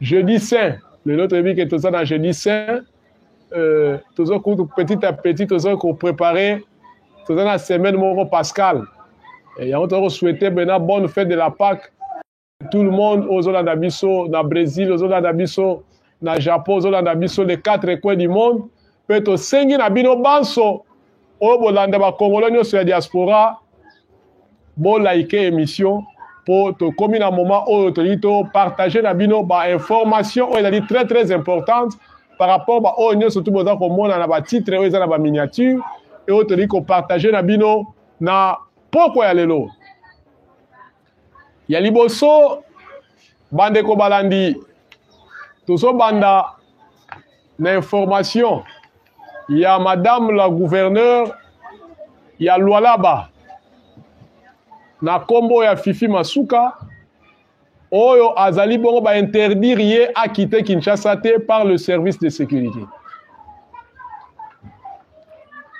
jeudi saint lelo toyebi ke toza na jeudi saint euh, toza kutu petit à petit toza koprépare toza na semaine moko pascal yango toza kosouhaite bena bonne fête de la paque tout le monde ozolanda biso na brésil ozolanda biso na japon ozolanda biso les quatre coins du monde mpe tosengi na bino banso oyo bolanda bakongolo nyonso ya diaspora bolaike émission mpo tokomi na moment oyo tolingi topartage na bino bainformation oyo ezali très très importante par rapport baoyo nyonso tu boza komona na batitre oyo eza na baminiature e oyo tolingi kopartage na bino na pokwa ya lelo ya liboso bandeko balandi tozobanda na information ya madame la gouverneur ya lualaba na nkombo ya fifi masuka oyo azali bongo bainterdire ye akite kinshasa te par le service de sécurité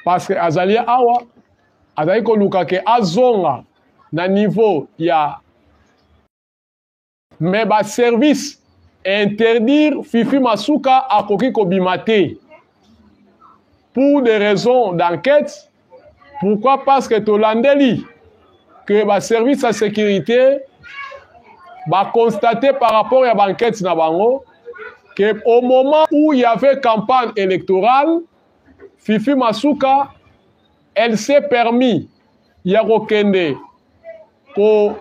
parce que azali awa azali koluka ke azonga na niveau ya mais ba service interdire fifi masuka akoki kobima te pour des raisons d'enquête pourquoi parce que tolandeli que ba service ya sécurité baconstate par rapport ya baenquête na bango que au moment où il y avait campagne électorale fifi masuka elle s'est permis ya kokende ko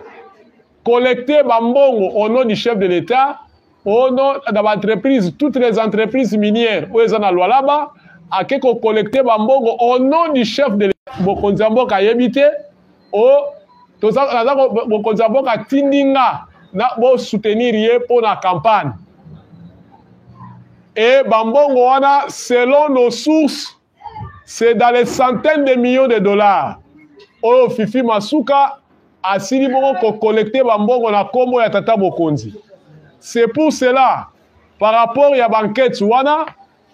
collecter bambongo au nom du chef de l'État au nom na baentreprise toutes les entreprises minières oyo eza na lwalaba ake kocollecte bambongo au nom du chef de mokonzi ya mboka ayebi te o naza mokonzi ya mboka atindi nga na bosoutenir ye mpo na campagne e bambongo wana selon nos sources c'est dans les centaines de millions de dollars oyo fifi masuka asili bongo kokolekte bambongo na nkombo ya tata mokonzi c'est pour cela par rapport ya bankete wana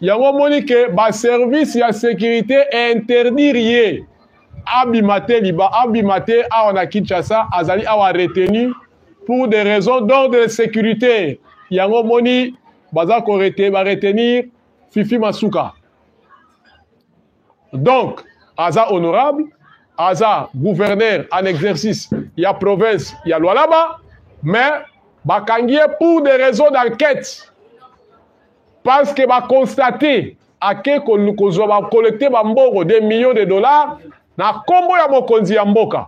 yango omoni ke baservice ya sécurité interdire ye abima te liba abima te awa na kinshasa azali awa retenu pour des raisons d'ordre de sécurité yango omoni baza ko baretenir fifi masuka donc aza honorable aza gouverneur en exercice ya province ya lualaba mais bakangi ye pour des raisons d'enquête parce que baconstate ake kozwa bacollecte bambongo des millions de dollars na nkombo ya mokonzi ya mboka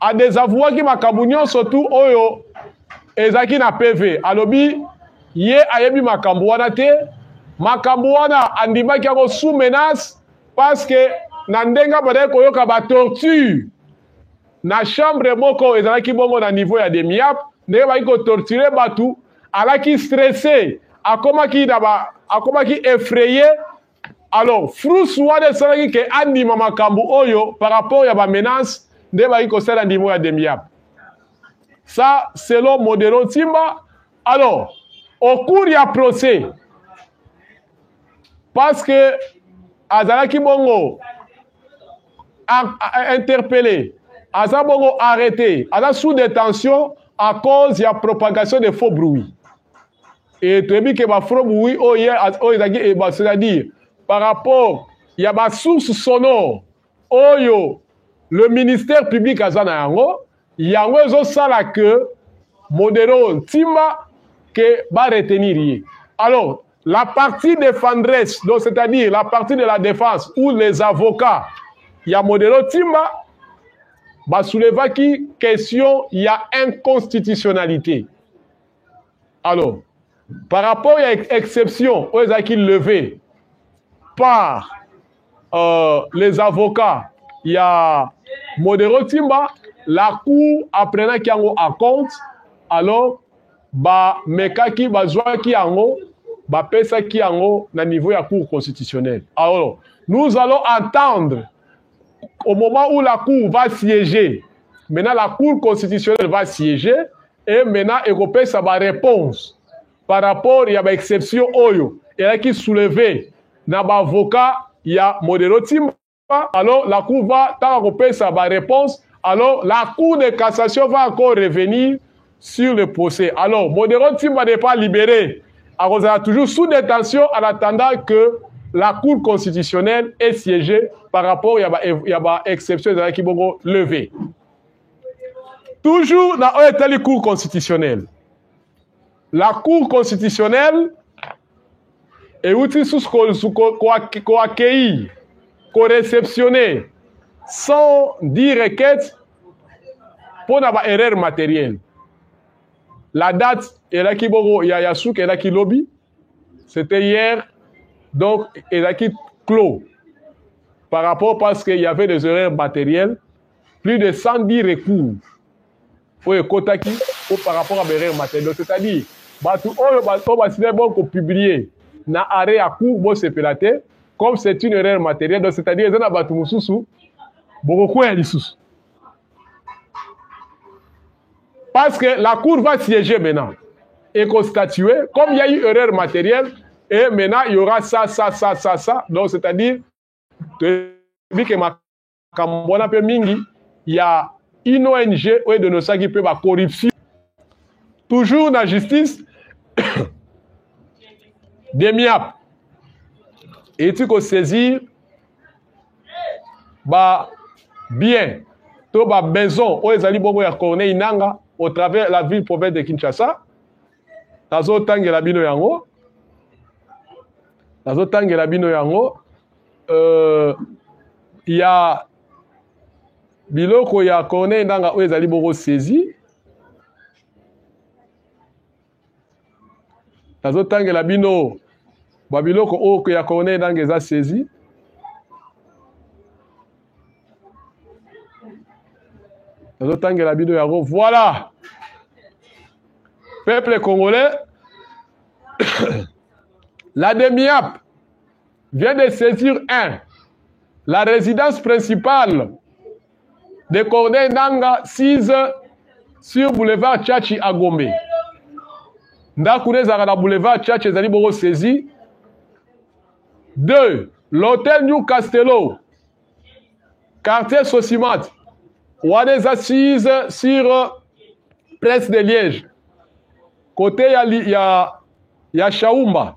a desavouaki makambo nyonso tu oyo ezalaki na PV. Alobi ye ayebi makambo wana te, makambo wana andimaki yango sous menace parce que na ndenge abandaki koyoka ba torture na chambre moko ezalaki bongo na niveau ya demiap ndenge baki kotorture bato alaki stresse akomaki na ba akomaki effraye alors frus wana esalaki ke andima makambo oyo par rapport ya bamenance nde baki kosala ndimo ya demiab ça selon modelo ntimba alors au cours ya procès parce que azalaki bongo interpellé aza bongo arrêté aza sous détention à cause ya propagation de faux bruit Et toyebi que ba frobe oui oyo oh, oyo oh, ezalaki eh, c'est-à-dire par rapport ya ba source sonore oyo oh, le ministère public aza na yango yango ezosala que modero ntimba ke ba retenir ye alors la partie défendresse donc c'est-à-dire la partie de la défense ou les avocats ya modero ntimba basoulevaki question ya inconstitutionnalité alors par rapport ya exception oyo ezalaki levée par euh, les avocats ya modero timba la cour apprenaki yango à compte alors bamekaki bazwaki yango bapesaki yango na niveau ya cour constitutionnelle alors nous allons attendre au moment où la cour va siéger maintenant la cour constitutionnelle va siéger e mena ekopesa ba réponse par rapport ya ba exception oyo elaki souleve na ba avocat ya modero timba alors la cour va tanga kopesa ba réponse alors la cour de cassation va encore revenir sur le procès alors modero timba n'est pas libéré akozala toujours sous détention en attendant que la cour constitutionnelle est siégée par rapport ya ba, ya ba exception ezalaki bongo levée Toujours na oyo etali cour constitutionnelle. La cour constitutionnelle euti susu koaccueillir, koreceptionner sans dire requête mpo na ba erreur matérielle. La date elaki bongo ya, ya suka elaki lobi, c'était hier, donc elaki clos par rapport parce qu'il y avait des erreurs matérielles plus de 110 recours oyo ekotaki po par rapport ya baerreur matériel c'est-à-dire bato oyo oyo basilai bongo kopublie na arret ya cour bosepela te comme c'est une erreur matériel donc c'est-à-dire eza na bato mosusu bokokwea lisusu parce que la cour va siéger maintenant et constatuer comme il y a eu erreur matérielle et maintenant il y aura ça ça ça ça ça donc c'est-à-dire que ma makambo wana mpe mingi ya une ong oyo edenosaki mpe bacorruption toujours na justice demiap eti kosaisir ba bien to ba maison oyo ezali bongo ya corneille nanga au travers la ville province de kinshasa nazotangela bino yango nazotangela bino yango euh, ya biloko ya corneille ndanga oyo ezali boko saisi nazotangela bino babiloko oyo ya corneille ndanga eza saisi nazotangela bino yango voilà peuple congolais la demiap vient de saisir un la résidence principale de Corneille Nanga 6 sur boulevard Tchatchi à Gombe. ndako na ezalaka na boulevard Tchatchi ezali bongo saisi 2 l'hôtel New Castello quartier Sosimate wana eza 6 sur presse de Liège côté ya, ya, ya Shaumba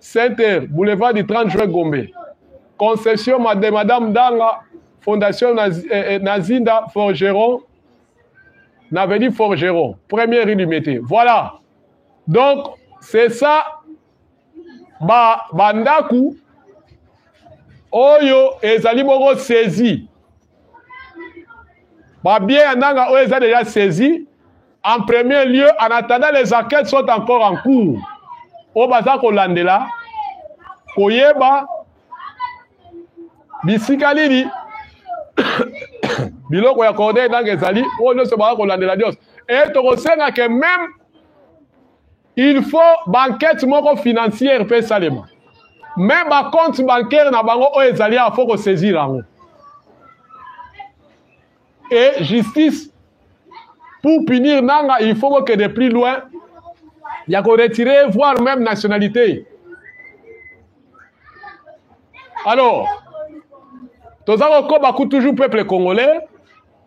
Center, boulevard du 30 juin Gombe. Concession de Madame Danga, Fondation Naz eh, eh, Nazinda Forgeron, Naveni Forgeron, première rue du métier. Voilà. Donc, c'est ça, ba, bandaku, oyo ezali bongo saisi. babie ya nanga oyo eza deja saisi en premier lieu en attendant les enquêtes sont encore en cours oyo baza kolandela koyeba bisika nini biloko ya corneille nanga ezali oyo nyonso baka kolandela nyonso e tokosenga ke meme il faut banquete moko financière mpe esalema me bacompte bancaire na bango oyo ezali awa fo kosaisir yango e justice pour punir nanga il faut kokende plus loin ya koretire voire même nationalité alors toza kokoba ku toujours peuple congolais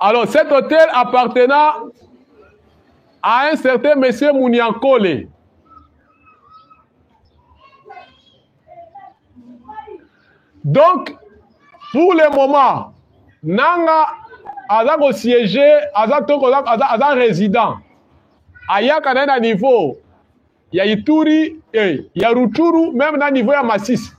Alors, cet hôtel appartenant à un certain monsieur Mouniankole. Donc, pour le moment, Nanga aza ko siéger, aza toko aza, aza résident. Ayaka na niveau ya Ituri eh, ya Ruchuru meme na niveau ya Masisi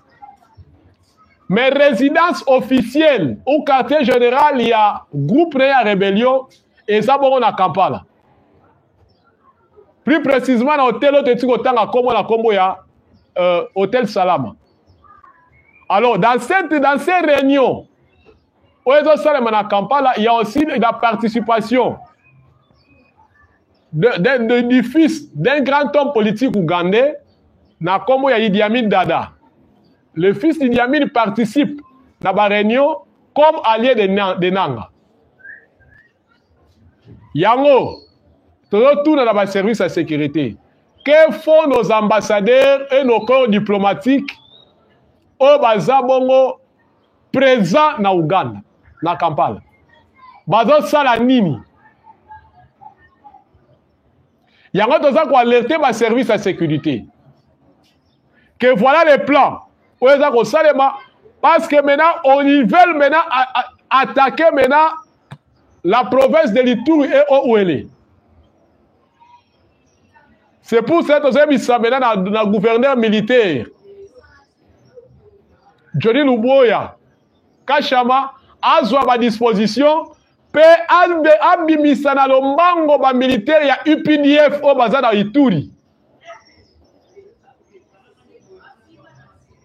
mais résidence officielle au quartier général ya groupe na ya rébellion eza bongo na Kampala plus précisément na hôtel oyo toyeti kotanga nkombo na nkombo ya euh, hôtel Salama alors dans cette dans ces réunions oyo ezosalema na kampala ya aussi la participation de, de, de, du fils d'un grand homme politique ougandais na nkombo ya Idi Amin Dada le fils d'Idi Amin participe na baréunion comme allié de, na, de Nanga yango tozotuna na baservice ya sécurité que font nos ambassadeurs et nos corps diplomatiques oyo baza bongo présent na Ouganda na Kampala bazosala nini yango toza koalerte baservice ya sécurité que voilà le plan oyo eza kosalema parce que maintenant on y veulent maintenant attaquer maintenant la province de l'Ituri et Ouele C'est pour ça que tozoya bisambela na, na gouverneur militaire Johnny Luboya Kashama azwa ba disposition mpe abimisa na lombango bamilitaire ya updf oyo baza na ituri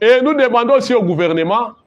et nous demandons aussi au gouvernement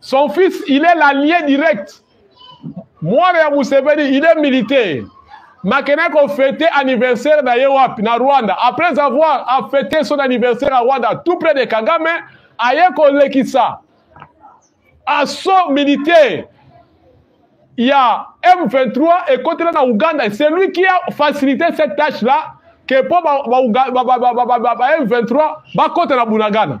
Son fils, il est l'allié direct. Mwana ya Museveni, il est militaire. Makena ko fêter anniversaire na ye wapi na Rwanda. Après avoir a fêté son anniversaire à Rwanda, tout près de Kagame, aye kolekisa assaut militaire ya M23 ekotela na Ouganda. C'est lui qui a facilité cette tâche-là que mpo ba, ba, ba, ba, ba, ba, ba, ba, ba M23 bakota na Bunagana.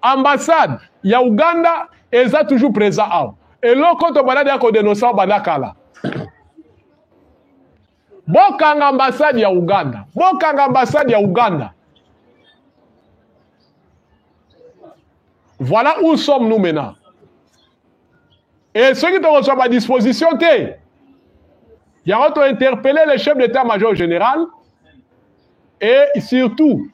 Ambassade ya Ouganda eza toujours présent awa. Eloko to balade ya ko denoncer au banda kala. Bokanga ambassade ya Ouganda. Bokanga ambassade ya Ouganda. Voilà où sommes-nous maintenant. e soki tokozwa badisposition te yango tointerpele le chef d'état major général et surtout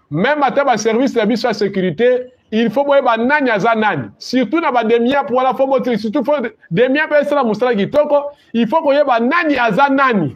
même ata baservice na biso ya sécurité il faut boyeba nani aza nani surtout na bademiap wana fo botili surtout fo demiap esala mosala kitoko il faut koyeba nani aza nani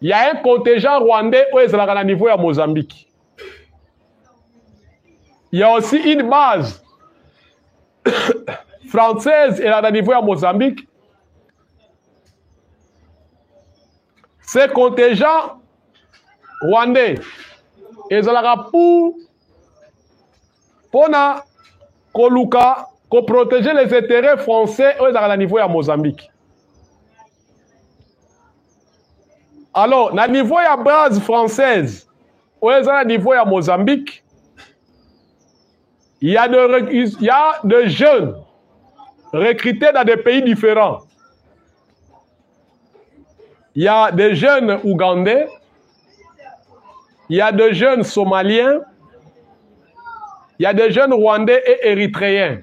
Il y a un contingent rwandais oyo ezalaka na niveau ya Mozambique. Il y a aussi une base française elaka na niveau ya Mozambique. Ce contingent rwandais ezalaka pour mpona koluka koprotéger les intérêts français oyo ezalaka na niveau ya Mozambique. alors na niveau ya base française oyo eza na niveau ya mozambique ya de, ya de jeunes recrutés dans des pays différents il y a des jeunes ougandais il y a des jeunes somaliens il y a des jeunes rwandais et érythréens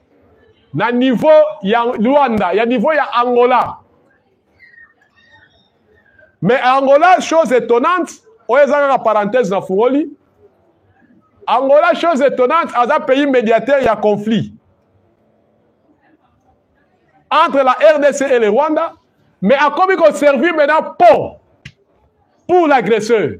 na niveau ya Luanda ya niveau ya Angola mais Angola chose étonnante oyo eza kaka parenthèse na fungoli Angola chose étonnante aza pays médiateur ya conflit entre la RDC et le Rwanda mais akomi ko servir maintenant pont pour l'agresseur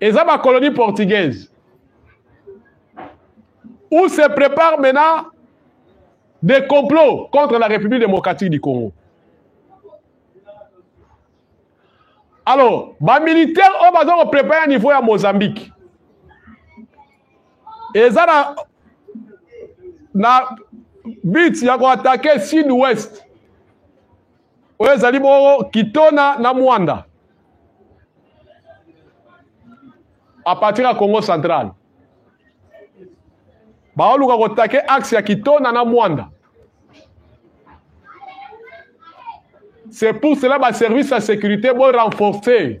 eza ba colonie portugaise où se prépare maintenant des complots contre la République démocratique du Congo. Alors, ba militaires oyo baza koprepare niveau ya Mozambique eza na na but ya koatake sud-ouest oyo ezali bongo kitona na mwanda a partir ya congo central baoluka kotake axe ya kitona na mwanda c'est pour cela baservice ya sécurité borenforce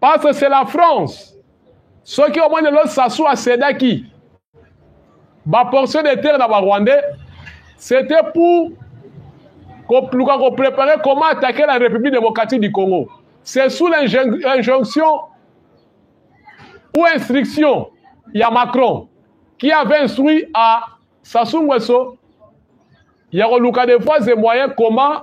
parce que c'est la france soki omoni lelo sasu asedaki baportion de terre na barwandais c'était pour koluka koprépare comment attaquer la république démocratique du congo c'est sous l'injonction ou instruction ya macron qui avait instruit à sasu ngweso ya koluka de voies et moyens comment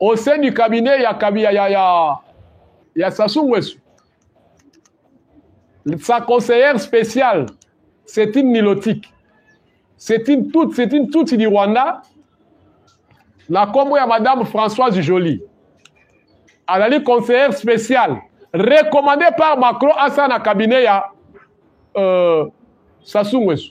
au sein du cabinet ya kabia ya ya ya Sassou Nguesso sa conseillère spéciale c'est une nilotique c'est une toute c'est une toute du Rwanda na kombo ya madame Françoise Jolie azali conseillère spéciale recommandée par Macron asala na cabinet ya euh, Sassou Nguesso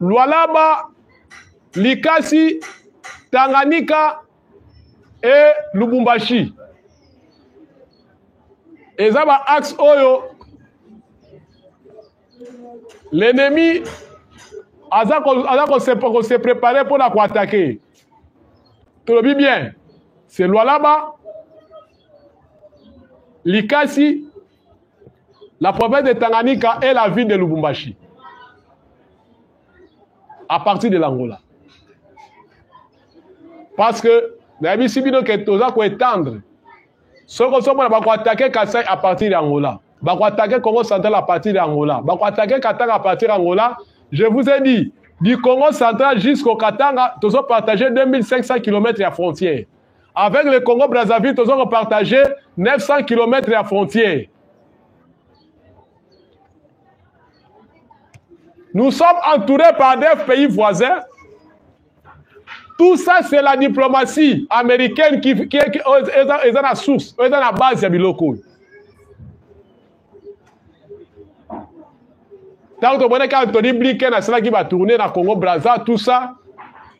Lualaba, Likasi, Tanganyika et Lubumbashi. Eza ba axe oyo l'ennemi aza ko se préparer pour la ko attaquer. Tolobi bien, c'est Lualaba, Likasi La province de Tanganyika est la ville de Lubumbashi. À partir de l'Angola. Parce que, nayebisi bino ke toza koétendre soki ozomona bakoatake kasai à partir ya angola bakoatake congo central à partir ya angola bakoatake katanga à partir ya angola je vous ai dit du congo central jusqu'au katanga tozopartage 2500 km ya frontière avec le congo brazzaville toza kopartage 900 km ya frontière nous sommes entourés par des pays voisins tout ça c'est la diplomatie américaine qui, qui, qui eza na source eza na base ya biloko oyo ntango tomonaki antony blinken asalaki batourne na congo braza tout ça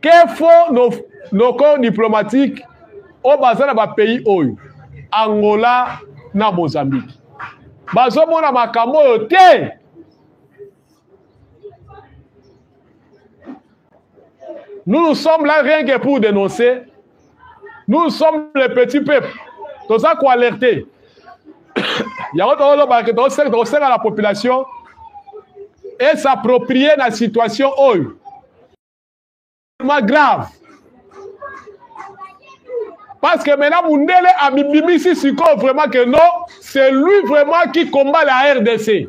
ke fo no, noko diplomatique oyo baza na bapays oyo angola na mozambique bazomona makambo oyo te nous nous sommes là rien que pour dénoncer nous sommes les petits peuples toza koalerte yango tozoloba ke tokosenga na population et s'approprie na situation oyo ma grave parce que maintenant mundele amibimisi sikoyo vraiment que non c'est lui vraiment qui combat la rdc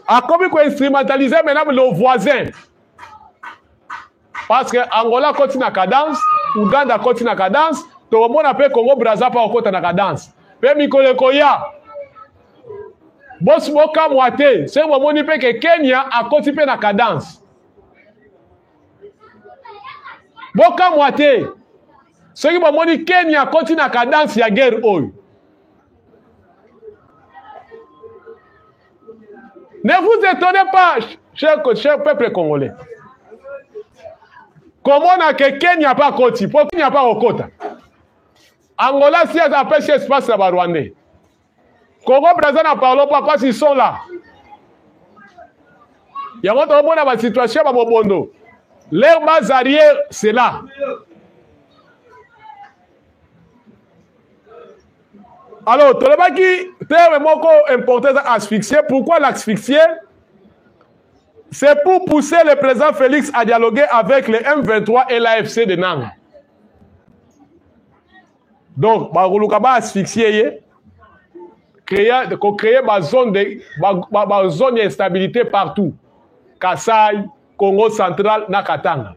akomi koinstrumentaliser maintenant le voisin parce que angola akoti na cadence uganda akoti na cadence tokomona mpe congo braza mpe akokota na cadence mpe mikolo ekoya bosi bokamwa te soki bomoni mpe ke kenya akoti mpe na cadence bokamwa te soki bomoni kenya akoti na cadence ya guerre oyo Ne vous étonnez pas, cher, cher peuple congolais. komona ke kenya mpe akoti mpo kenya mpe akokota angola si apesi espace ya barwandais kongo braza na parlo mpo apasi sola yango tokomona basituation ya bamobondo leur base arrière c'est là alors tolobaki terme moko important eza asphyxie pourquoi l'asphyxie c'est pour pousser le président félix à dialoguer avec les m23 et l'afc de nanga donc bakoluka baasphyxie ye kocreye bazone de bazone ya instabilité partout kasai congo central na katanga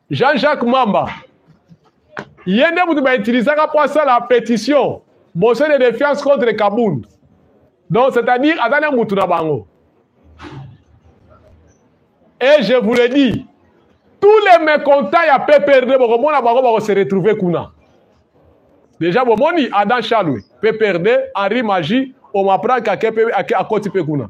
jean jacques mamba ye nde moto bautilisaka mpo asala pétition motion de défiance contre kabund donc c'est-à-dire aza na motu na bango et je vous le dis tous les mécontents ya pprd bokomona bango bakose retrouver kuna deja bomoni adam chalwe pprd henri magi omaprank akoti mpe kuna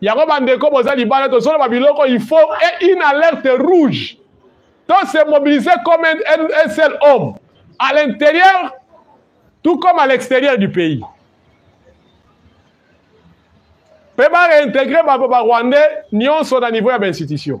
Yango bandeko boza libala tozoloba biloko il faut et une alerte rouge. Donc c'est mobilisé comme un, un, un seul homme à l'intérieur tout comme à l'extérieur du pays. Peut ba réintégrer ba, ba Rwandais nyonso na niveau ya ba institution.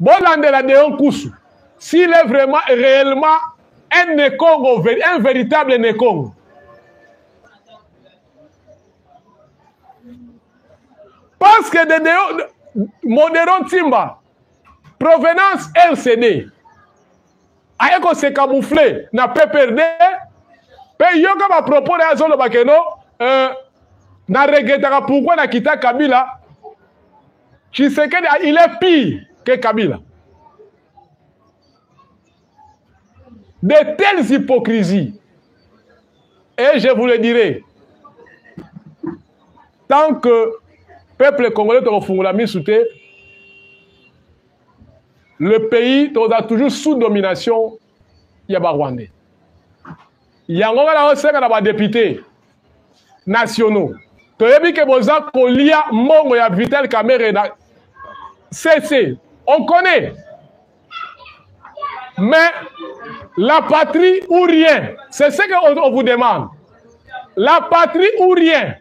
bolandela deo nkusu s'il est vraiment réellement un nekongo un véritable nekongo parce que de deo modero ntimba provenance rcd aye ko se camoufler na PPRD pe yoka ba propos na azo loba keno euh, na regrettaka pourquoi na kita Kabila Tshisekedi ah, il est pire que Kabila de telles hypocrisies et je vous le dirai tant que peuple congolais tokofungola misu te le pays tokozala toujours sous domination ya barwandais yango nga naosenga na badepute nationaux toyebi ke boza kolia mbongo ya vital kamere na cc on connaît mais la patrie ou rien c'est ce que on vous demande la patrie ou rien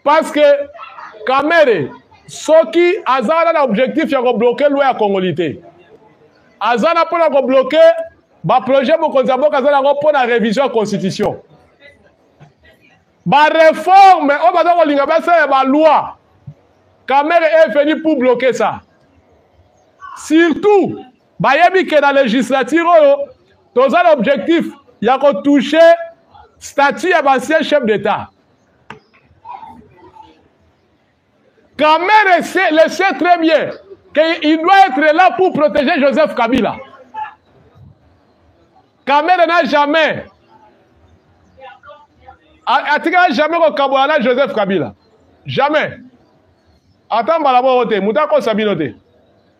parce que kamere soki aza wana na objectif ya kobloke loi ya kongoli te aza na mpo na kobloke baprojet mokonzi ya mboka aza nango mpo na révision ya constitution bareforme oyo baza kolinga basala ya baloi kamere est venu pour bloquer ça surtout Bayebi ke na legislature oyo toza na objectif ya ko toucher statut ya bancien chef d'etat. Kamere sait, le sait très bien qu'il doit être là pour protéger Joseph Kabila. Kamere n'a jamais atikala jamais kokabola na Joseph Kabila. Jamais. Ata mbala moko te, moto akosa bino te.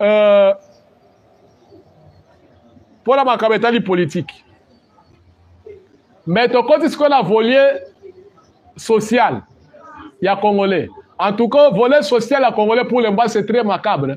euh, mpo na makambo etali politiki me tokoti sikoyo na volie social ya congolais en tout cas volet social ya congolais pour le moment c'est très macabre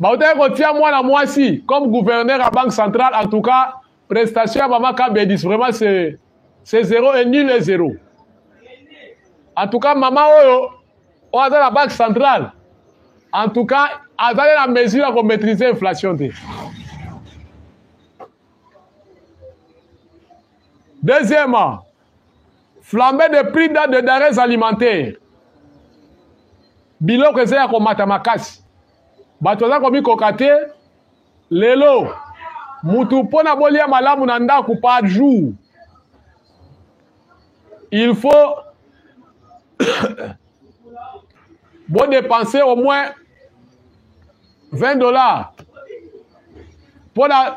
bautaki kotia mwana mwasi comme gouverneur ya banque centrale en tout cas prestation ya mama kabedis vraiment c'est c'est zero et nul et zero en tout cas mama oyo oyo aza na banque centrale en tout cas azali na mesure ya komaîtrise inflation te deuxièmement flambe de prix da de dares alimentaire biloko eza ya komata makasi bato baza komikoka te lelo mutu mpo na bolia malamu na ndako par jour il faut bodepense au moins 20 dollars mpo na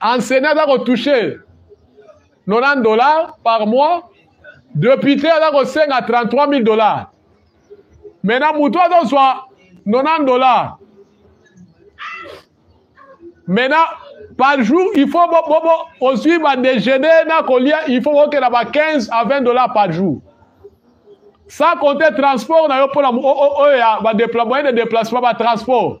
enseignant aza kotouche 90 dollars par mois depute aza kosenga 33 000 dollars maintenant motu azozwa 90 dollars maintenant par jour il faut bobo ozwi badejeuner na kolia il faut okenda ba 15 à 20 dollars par jour sans compter transport na yo mpona oyo ya moyen de déplacement batransport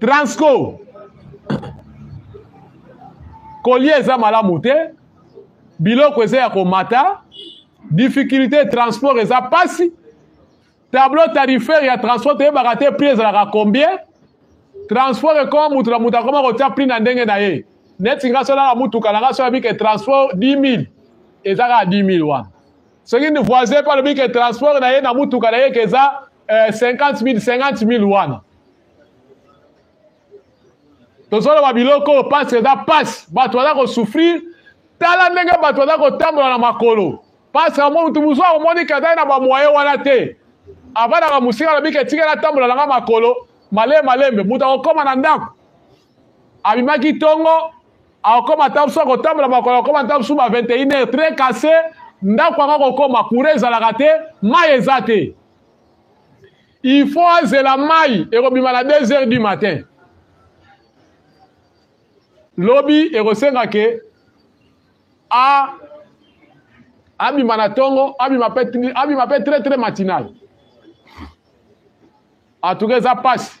transco kolia eza malamu te biloko eza ya komata difficulté ya transport eza mpasi tableau tarifaire ya transport toyebaka te prix ezalaka combien transport ekoma moto na moto akoma kotya prix na ndenge na ye neti nga so nanga motuka nanga so yabike transport 10 000 eza kaka 10 000 wana soki ni voisin mpe alobi ke transport na ye na motuka na ye ke eza 50 mil 50 mil wana tozoloba biloko oyo mpasi eza mpasi bato baza kosouffrir tala ndenge bato baza kotambola na makolo mpasi yango motu mosusu akomoni ke azali na bamoye wana te avandaka mosika alobi ke etikela atambola na nga makolo malembe malembe moto akokóma na ndako abimaki ntongo akokoma ata mosusu akotambola makolo akokoma ata mosusu ba 21 heure très casse ndako yango akokoma courant ezalaka te mai eza te il faut azela mai ekobima na 2 heures du matin lobi ekosenga ke a abima na ntongo abima mpe très très matinal en tout cas eza mpasi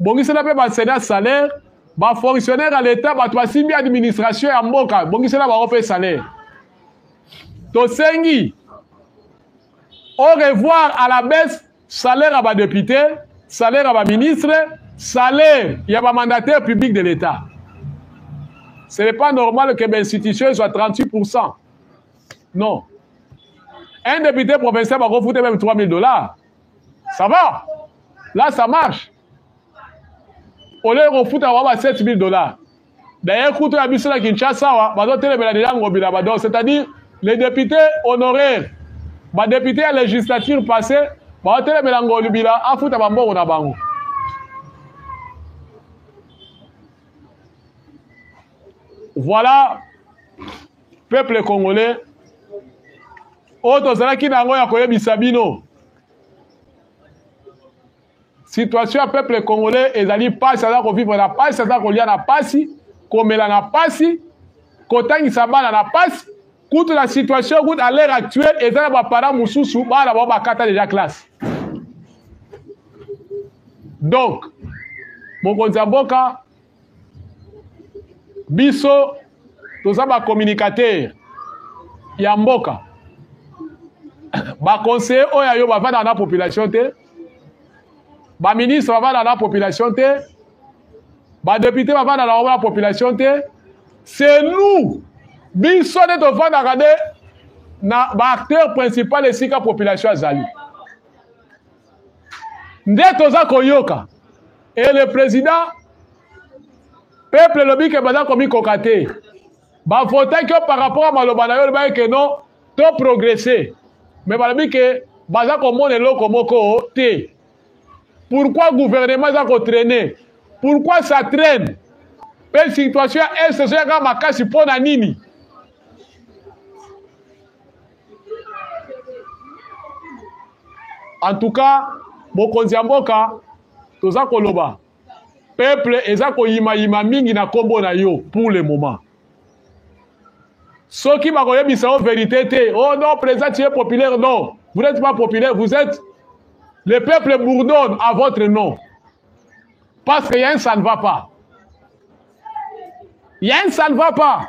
bongisela mpe basena salaire bafonctionnaire ya leta bato basimbi administration ya mboka bongisela bango mpe salaire tosengi au revoir à la baisse salaire ya badepute salaire ya baministre salaire ya bamandataire public de l'état ce n'est pas normal que bainstitution ezwa 38 non un député provincial bakofuta même 3000 dollars ça va là ça marche olie kofuta wa ba 7000 dollars d'ailleurs kutu ya biso na kinshasa awa bazotelemela deja ngobila bador c'est à dire les députés honoraires badepute ya législature passé baotelemela ngolubila afuta bambongo na bango voilà peuple congolais oyo tozalaki na yango ya koyebisa bino situation ya peuple congolais ezali mpasi aza kovivre na mpasi aza kolia na mpasi komela na mpasi kotangisa bana na mpasi kutu na situation kutu à l'heure actuelle eza na baparent mosusu bana bao bakata deja classe donc mokonzi ya mboka biso toza ba communicateur ya mboka baconseiller oyo ya yo bavandaka na population te baministre bavandaka na population te badepute bavandaka na bango na population te c'est nous biso nde tovandaka nde na baacteur principal esika population azali nde toza koyoka e le président peuple elobi ke baza komikoka te bavotaki yo par rapport ya maloba na yo olobaki ke non to progresse me balobi ke baza komona eloko moko te pourquoi gouvernement eza kotraine pourquoi ça traine mpe situation ya est ezoyaka makasi mpo na nini en tout cas mokonzi ya mboka toza koloba peuple eza koyimayima mingi na nkombo na yo pour le moment soki bakoyebisa yo verité te oh non président tu es populaire non vous n'êtes pas populaire vous êtes le peuple bourdonne à votre nom parce que ya un ça ne va pas ya un ça ne va pas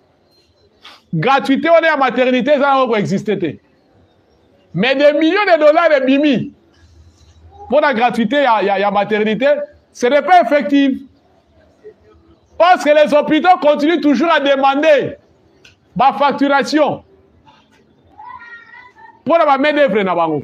gratuité wana ya maternité eza yango koexiste te mais des millions de dollars ebimi mpo na gratuité ya, ya, ya maternité ce n'est pas effective parce que les hôpitaux continuent toujours à demander bafacturation mpo na bamedevre na bango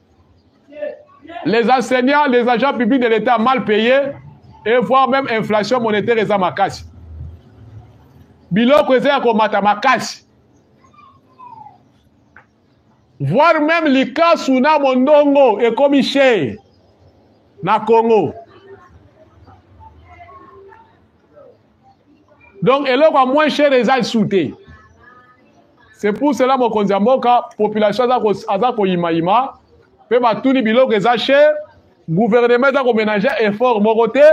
Les enseignants, les agents publics de l'État mal payés et voire même inflation monétaire eza makasi. Biloko eza ya komata makasi. Voire même likasu na mondongo ekomi chez na Congo. donc eloko ya moins cher eza lisu te c'est pour cela mokonzi ya mboka population aza koyimayima mpe batuni biloko eza cher gouvernement eza koménage effort moko te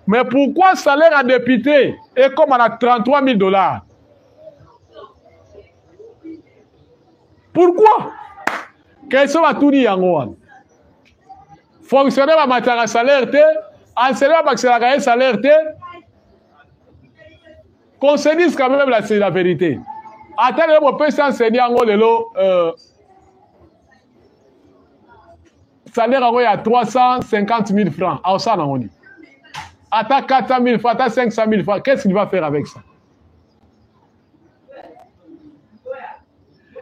mais pourquoi salaire ya député ekóma na 33 000 dollars pourquoi question batuni yango wana fonctionnaire bamataka salaire te enseignant babakiselaka ye salaire te qu'on se dise quand même la, la vérité ata lelo bopesi enseigne yango lelo euh, salaire yango ya 350 000 francs aosala nango nini ata 400 000 francs ata 500 000 francs qu'est ce qu'il va faire avec ça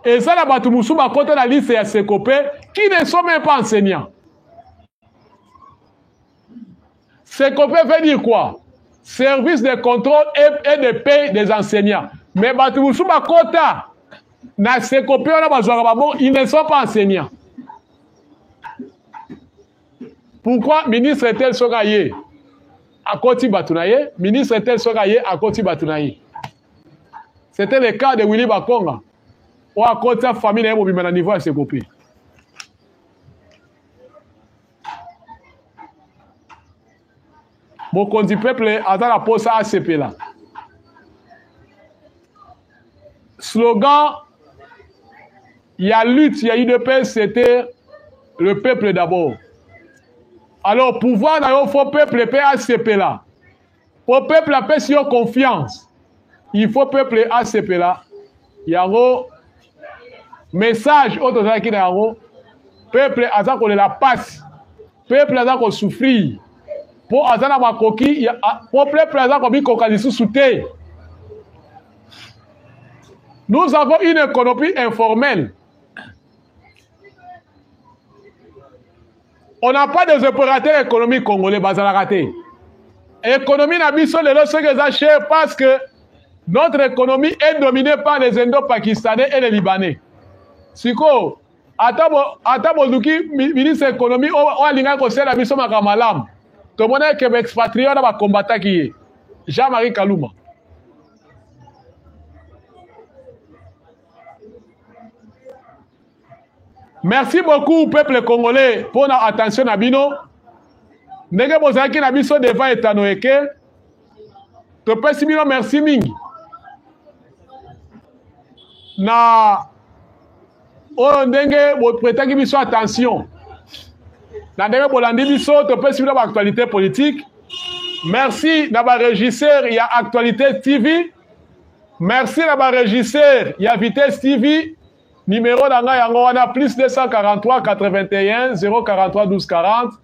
eza na bato mosusu bakota na liste ya seko mpe qui ne sont même pas enseignant seko mpe veut dire quoi service de contrôle et de paye des enseignants mais bato mosusu bakota na seko mpe wana bazwaka babongo ils ne sont pas enseignants pourquoi ministre tel soki aye akoti bato na ye ministre tel soki aye akoti bato na ye c'était le cas de willy bakonga oyo akotisa famille na ye mobimba na niveau ya sekope mokonzi peuple aza na mposa asepela slogan Ya lutte ya UDPS c'était le peuple d'abord. Alors pouvoir na yo faut peuple pe asepela. Po peuple apesi yo confiance. Il faut peuple asepela. Yango message oyo tozalaki na yango peuple aza kolela pasi peuple aza ko souffrir po aza na makoki po peuple aza komikoka lisusu te nous avons une économie informelle on n'a pas des opérateurs économiques congolais bazalaka te économie na biso lelo soki eza cher parce que notre économie est dominée par les indo-pakistanais et les libanais sikoyo ata boluki ministre ya ekonomi oyo alingaki kosalela biso makambo malamu tomonaki ke baexpatrie wana bakombataki ye jean marie kaluma merci beaucoup peuple congolais mpo na attention na bino ndenge bozalaki na biso devant etano eke topesi bino merci mingi na oyo ndenge bopretaki biso attention na ndenge bolandi biso topesi bino baactualité politique merci na baregisseur ya actualité tv merci na baregisseur ya vitesse tv nimero na ngai yango wana plus 243 81 043 12 40